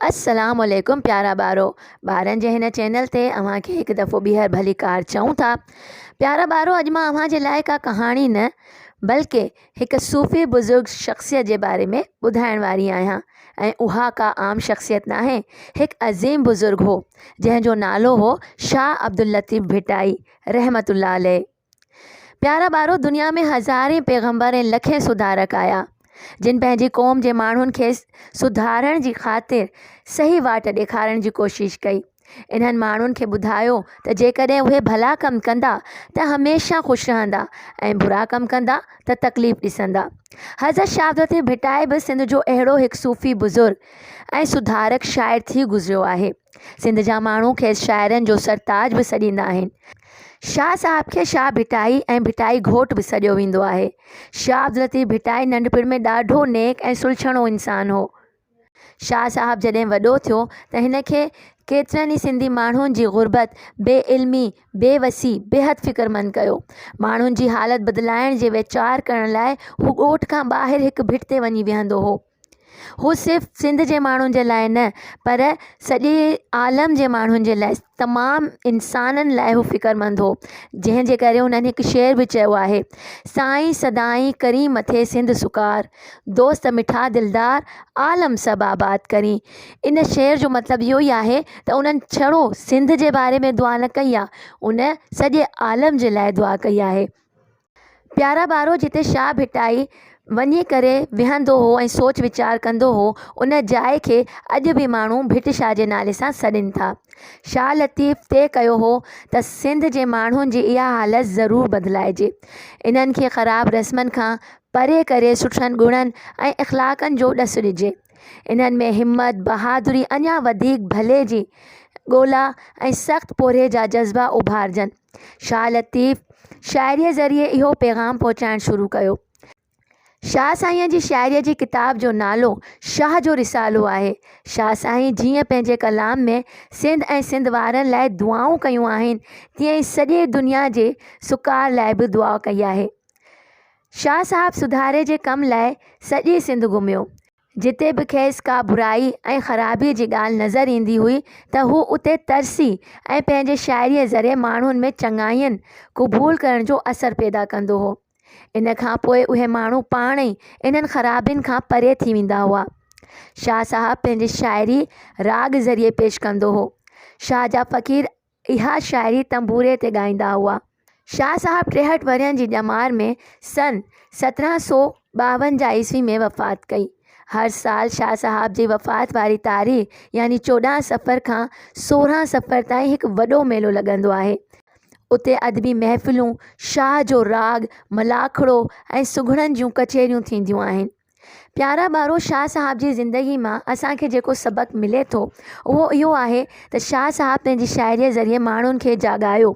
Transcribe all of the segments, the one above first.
السلام عليڪم پيارا ٻارو ٻارن جي هن چينل تي اوهان کي هڪ دفعو ٻيهر ڀلي ڪار چئون ٿا پيارا ٻارو اڄ مان اوهان جي لاء ڪا ڪهاڻي نه بلڪه هڪ صوفي بزرگ شخصيت جي باري ۾ ٻڌائڻ واري آهيان ۽ اها ڪا عام شخصيت ناهي هڪ عظيم بزرگ هو جنهن جو نالو هو شاهه عبداللطيف ڀٽائي رحمة الله عليه پيارا ٻارو دنيا ۾ هزارين پيغمبر ۽ لکين سڌارڪ آيا جن پنهنجي قوم جي ماڻهن کي سڌارڻ جي خاطر صحيح واٽ ڏيکارڻ جي ڪوشش ڪئي انهن ماڻهن کي ٻڌايو ته جيڪڏهن اهي ڀلا ڪم ڪندا ته هميشه خوش رهندا ۽ برا ڪم ڪندا ته تڪليف ڏسندا. حضرت شهابالدين ڀٽائي به سنڌ جو اهڙو هڪ صوفي بزرگ ۽ سڌارڪ شاعر ٿي گذريو آهي. سنڌ جا ماڻهو کيس شاعرن جو سرتاج به سڏيندا آهن. شاهه صاحب کي شاهه ڀٽائي ۽ ڀٽائي گهوٽ به سڏيو ويندو آهي. شهابالدين ڀٽائي ننڍپڻ ۾ ڏاڍو نيڪ ۽ سلڇڻو انسان هو. شاهه صاحب جڏهن وڏو ٿيو ته هن کي ڪيترن ئي سنڌي ماڻهن جي غربت، بي علمي، بي وسي بيحد فڪرمند ڪيو. ماڻهن جي حالت بدلائڻ جي ويچار ڪرڻ لاء هو ڳوٺ کان ٻاهر هڪ ڀٽ تي وڃي ويهندو هو. هو صرف سنڌ جي ماڻهن جي لاء نه پر سڄي عالم جي ماڻهن جي لاء تمام انسانن لاء هو فڪرمند هو. جنهن جي ڪري هنن هڪ شعر به چيو آهي، سائين سدائين ڪرين مٿي سنڌ سڪار. دوست مٺا دلدار عالم سڀ آباد ڪرين. ان شعر جو مطلب اهو ئي آهي ته انهن ڇڙو سنڌ جي باري ۾ دعا نه ڪئي آ، ان سڄي عالم جي لاء دعا ڪئي آهي. پيارا ٻارو جتي شاهه ڀٽائي وڃي ڪري ويهندو هو ۽ سوچ ويچار ڪندو هو، ان جاء کي اڄ به ماڻهو ڀٽ شاهه جي نالي سان سڏين ٿا. شاهه لطيف طئي ڪيو هو ته سنڌ جي ماڻهن جي اها حالت ضرور بدلائجي. انهن کي خراب رسمن کان پري ڪري سٺن گڻن ۽ اخلاقن جو ڏس ڏجي. انهن ۾ همت، بهادري، اڃا وڌيڪ ڀلي جي ڳولا ۽ سخت پورهيي جا جذبا اڀارجن. شاهه لطيف شاعريء ذريعي اهو پيغام پهچائڻ شروع ڪيو. شاهه سائينء جي شاعريء جي ڪتاب جو نالو شاهه جو رسالو آهي. شاهه سائين جيئن پنهنجي ڪلام ۾ سنڌ ۽ سنڌ وارن لاء دعائون ڪيون آهن، تيئن ئي سڄي دنيا جي سڪار لاء به دعا ڪئي آهي. شاهه صاحب سڌاري جي ڪم لاء سڄي سنڌ گهميو. جتي به کيس ڪا برائي ۽ خرابيء جي ڳالهه نظر ايندي هئي ته هو اتي ترسي ۽ پنهنجي شاعريء ذريعي ماڻهن ۾ چڱاين قبول ڪرڻ جو اثر پيدا ڪندو هو. ان کان پوء اهي ماڻهو پاڻ ئي انهن خرابين کان پري ٿي ويندا هئا. شاهه صاحب پنهنجي شاعري راڳ ذريعي پيش ڪندو هو. شاهه جا فقير اها شاعري تنبوري تي ڳائيندا هئا. شاهه صاحب ٽيهٺ ورهين جي ڄمار ۾ سن سترهن سؤ ٻاونجاهه عيسوي ۾ وفات ڪئي. هر سال شاهه صاحب جي وفات واري تاريخ يعني چوڏهن صفر کان سورهن صفر تائين هڪ وڏو ميلو لڳندو آهي. اتي ادبي محفلون، شاهه جو راڳ، ملاکڙو ۽ سگهڙن جون ڪچهريون ٿينديون آهن. پيارا ٻارو شاهه صاحب جي زندگي مان اسان کي جيڪو سبق ملي ٿو اهو اهو آهي ته شاهه صاحب پنهنجي شاعريء ذريعي ماڻهن کي جاڳايو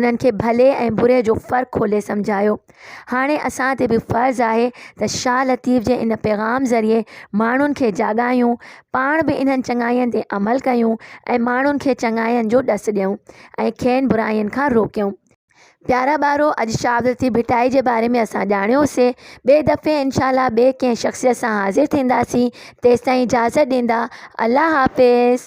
انهن کي ڀلي ۽ بري جو فرق کولي سمجهايو هاڻي اسان تي به فرض آهي ته شاهه لطيف جي ان پيغام ذريعي ماڻهن کي جاڳايون پاڻ به انهن چڱاين تي عمل ڪيون ۽ ماڻهن کي چڱاين جو ڏس ڏيون ۽ کين برائين کان روڪيون پيارا ٻارو اڄ شاهه عبداللطيف ڀٽائي جي باري ۾ اسان ڄاڻيو سي ٻئي دفعي انشاء الله ٻئي ڪنهن شخصيت سان حاضر ٿينداسين تيستائين اجازت ڏيندا الله حافظ.